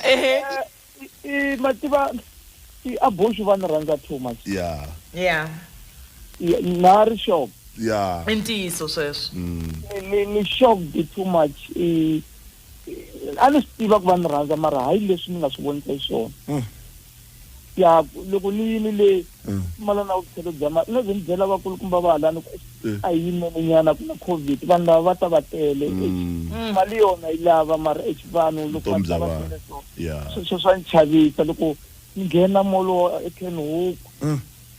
ehe i ma tiva i abortion va ni rhandza too much ya ya Ya, na ri shock ya i ntiyiso sweswo ni- ni ni shocked too much i i- a ni swi tiva ku va ni rhandza mara hayi leswi ni nga swi vonisa xiswona yaku loko ni yini le mm. pfumala na vukhelo bya mali na byi ni byela vakulukumba va halani ku mm. a yi nenenyana ku na covid vanhu lava va ta va tele mm. mali yona yi lava mara ex vanhu loko va ta va tele so sweswo swa ni chavisa loko ni nghena molo ekenhoku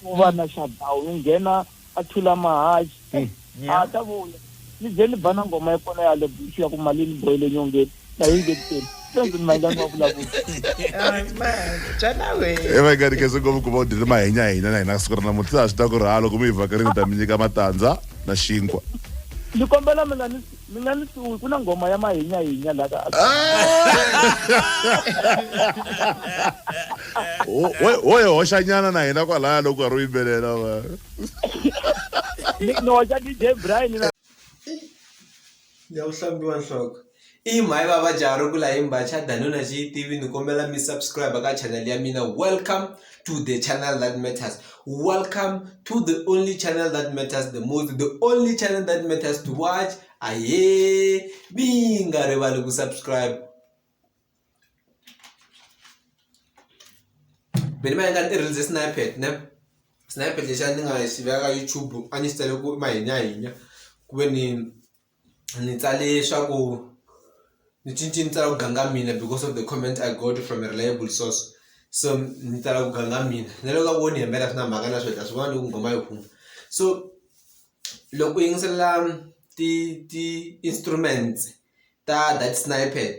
ku va na shutdown ni nghena a thula mahaji Hey, a nyama. ha ta vuya ni ze ni ba na ngoma ya kona ya le bush ya ku mali ni boyile nyongeni na yi ngeteni sweswi ni mayingani wa vulavula e va nga rikese ngopfu ku va u dyile mahenyahenya na hina siku ra namuntlha swi ta ku ri ha loko mi hi vhakarini ta mi nyika matandza na xinkwa ni kombela mina ni mi nga ni suwi ku na nghoma ya mahinyahinya la ka Wo- wo- wo hi hoxanyana na hina kwalaya loko karhi u yimbelela va ni ni hoxa dj brian na ya ku hlambiwa nhloko i mhayi va va jarukula hi mbacha danuna xi yi tivi ni kombela mi subscribe ka channel ya mina welcome to the channel that matters. Welcome to the only channel that matters the most, the only channel that matters to watch. Aye, binga rivali ku subscribe. Beni mayenga ni rinze snipet ne. Snipet lesha ni nga xiveka YouTube a ni sitele ku mahinya hinya. Ku ve ni ni tsale leswaku ni cince ni tsala ku ganga mina because of the comment I got from a reliable source so ni tsala ku ganga mina na loko a vo ni hembela swi na mhaka na swo ta swi vona loko nghoma yi huma so loko u yingisela ti ti-instruments ta that snippet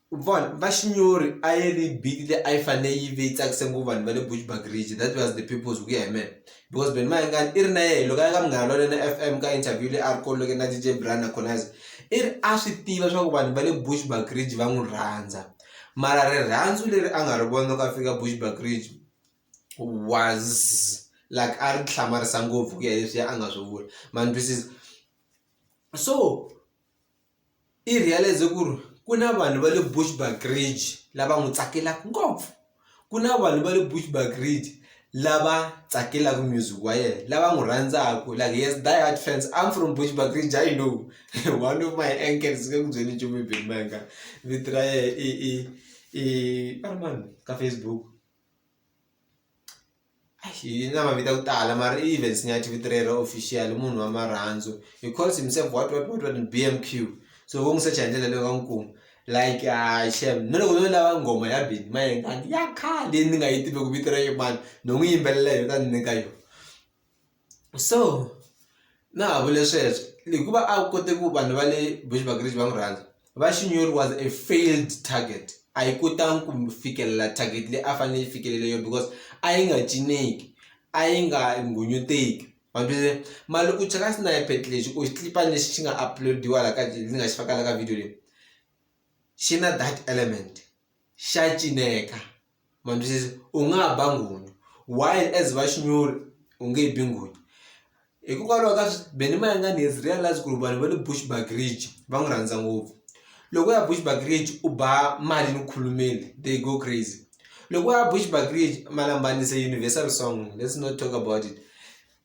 U vona va xinyori a yi ri beat leyi a yi fane yi ve yi tsakise ngopfu vanhu va le Bushbuckridge that was the purpose hi ku ya hi mehe because Benny Mayengani i ri na yehe loko a ya ka Munghana Lonene F_M ka interview leyi a ri ko na D_J Brian na Khonayisa i ri a swi tiva swa ku vanhu va le Bushbuckridge va n'wi rhandza mara rirhandzu leri a nga ri vona loko a fika Bushbuckridge was like a ri hlamarisa ngopfu ku ya hi leswiya a nga swi vula ma ni twisisa so. I realize ku ri ku na vanhu va le Bushbuckridge lava n'wi tsakelaka ngopfu ku na vanhu va le Bushbuckridge lava tsakelaka music wa yena lava n'wi rhandzaka like he has die hard fans I'm from Bushbuckridge I know one of my uncles ni nge ku byeli nchumu hi Benny Mayengani vito ra yena i i i a ri mani ka Facebook. hi na mavito ya ku tala mara i events ni ya tivito rero official munhu wa marhandzu he calls himself what what what what bmq so vo n'wi secha hi ndlela leyi va n'wi kuma like uh, shem na loko no lava nghoma ya bini mayengani ya khale ni nga yi tivi ku vito ra yimani no n'wi yimbelela yona ta ni nyika yona so na ha vule sweswo hikuva a wu koti ku vanhu va le Bushbuckridge va n'wi rhandza va Shinyori was a failed target a yi kotangi ku fikelela target leyi a fanele yi fikelele yona because a yi nga cineki a yi nga nghunyuteki ma swi tiva mara loko u cheka snippet lexi ku xilipi lexi xi nga upload-iwa la ka ndzi nga xi faka la ka video leyi xi na that element xa cineka. ma ni twisisa u nga ha ba nghunyu why as va xinuna u nge bi nghunyu hikokwalaho ka swi be ni mayengani has realised ku ri vanhu va le Bushbuckridge va n'wi rhandza ngopfu loko u ya Bushbuckridge u ba mali ni khulumeni they go crazy loko u ya Bushbuckridge Malambani is a universal song let's not talk about it.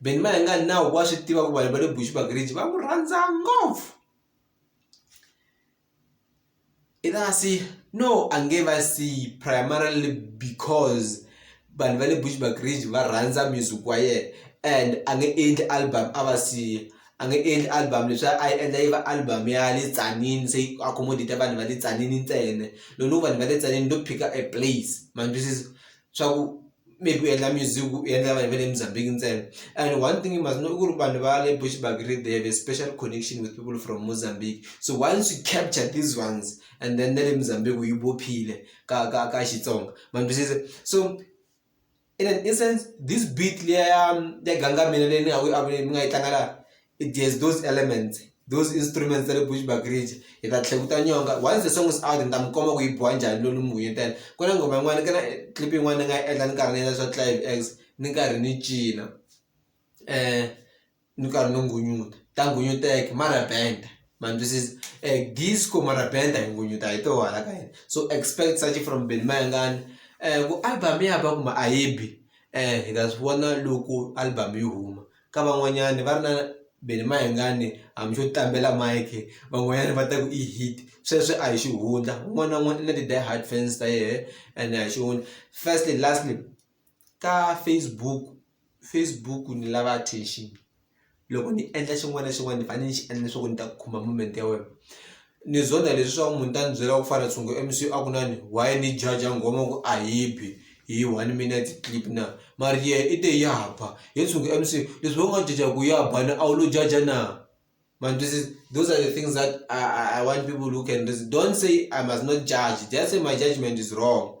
Benny Mayengani na wa swi tiva ku vanhu va le Bushbuckridge va n'wi rhandza ngopfu i ta si no a nge va siyi primarily because vanhu va le Bushbuckridge va rhandza music wa yena and a nge endli album a va siya a nge endli album leswi a yi endla yi va album ya le Tzaneen se yi accommodate-a vanhu va le Tzaneen ntsena loko no vanhu va le Tzaneen no pick-a a place ma ni twisisa. swa ku maybe u endla music u endla vanhu va le Mozambique ntsena and one thing you must know i ku ri vanhu va le Bushbuckridge they have a special connection with people from Mozambique so once you capture these ones and then na le Mozambique yi bophile ka ka ka Xitsonga ma ni twisisa so in an instance this beat leya ya Ganga Mina leyi ni nga ku yi mi nga yi tlanga laha it has those elements those instruments ta le bushbuckridge hi ta tlhela ku ta nyonga once the song is out ni ta mi komba ku yi biwa njhani loko ni mi vuyetela ku na nghoma yin'wana ka na clip yin'wana ni nga yi endla ni karhi ni endla swa clive ex ni karhi ni cina um ni karhi ni nghunyuta ta nghunyuteka mara band ma ni twisisa um disco mara band a hi nghunyuta hi toho hala ka hina so expect such from benny mayengani um ku album ya ba kumbe a yi bi um hi ta swi vona loko album yi huma. ka van'wanyani va ri na be ni mayengani hambi xo tlambela mike van'wanyana va ta ku i hit sweswo a hi xihundla un'wana na un'wana i na ti-die hard fans ta yehe ene a hi xihundla. Firstly lastly ka Facebook Facebook ni lava attention loko ni endla xin'wana na xin'wana ni fanele ni xi endla leswaku ni ta kuma moment ya wena. Ni zonda leswaku munhu ta ni byela ku fana tshungu MC a ku nani why ni judge nghoma ku a yi bi hi one minute clip na mara yehe i te ya ba he tshungu MC leswi wena u nga judge-a ku ya ba na a wu lo judge-a na ma ni twisisa those are the things that I want people who can listen don't say I must not judge just say my judgement is wrong.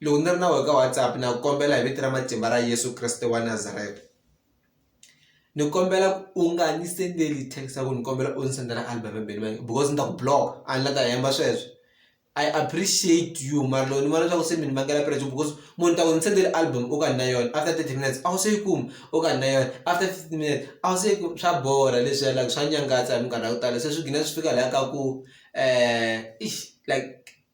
lowu ni ri na wona ka WhatsApp na ku kombela hi vito ra matimba ra Yeso Kreste wa Nazareta ni kombela u nga ni sendeli text ya ku ni kombela u ni sendela album ya Benny Mayengani because ni ta ku block a ni la ta hemba sweswo I appreciate you mara loko ni vona leswaku se mi ni vangela pressure because munhu ta ku ni sendeli album u ka ni na yona after thirty minutes a wu se yi kuma u ka ni na yona after fifty minutes a wu se yi kuma swa borha leswi ya like swa nyangatsa hi minkarhi ya ku tala se swi gina swi fika laha ka ku um like.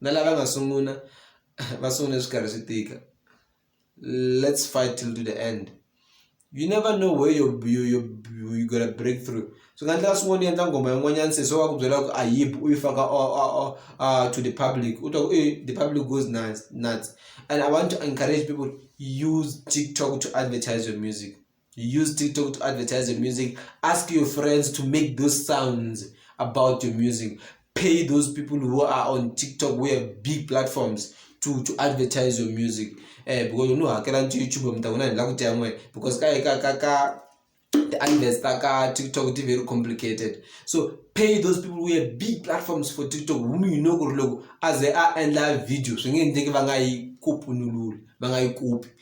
na lava nga sungula va sungule swi karhi swi tika let's fight till to the end you never know where you you you you gonna break through swi nga endleka swin'wana u endla nghoma yin'wanyana se so va ku byela ku a yip u yi faka to the public u twa ku e the public goes nuts nuts and i want to encourage people use tiktok to advertise your music use TikTok to advertise your music. Ask your friends to make those sounds about your music. Pay those people who are on TikTok, who have big platforms, to, to advertise your music. Eh, because you know, I can't YouTube, I'm talking about it. Because ka, ka, ka, ka, the adverts taka tiktok ti very complicated so pay those people who have big platforms for tiktok whom you know kuri loko aze a endla video swi nge endleki va nga yi kopunululi va nga yi kopi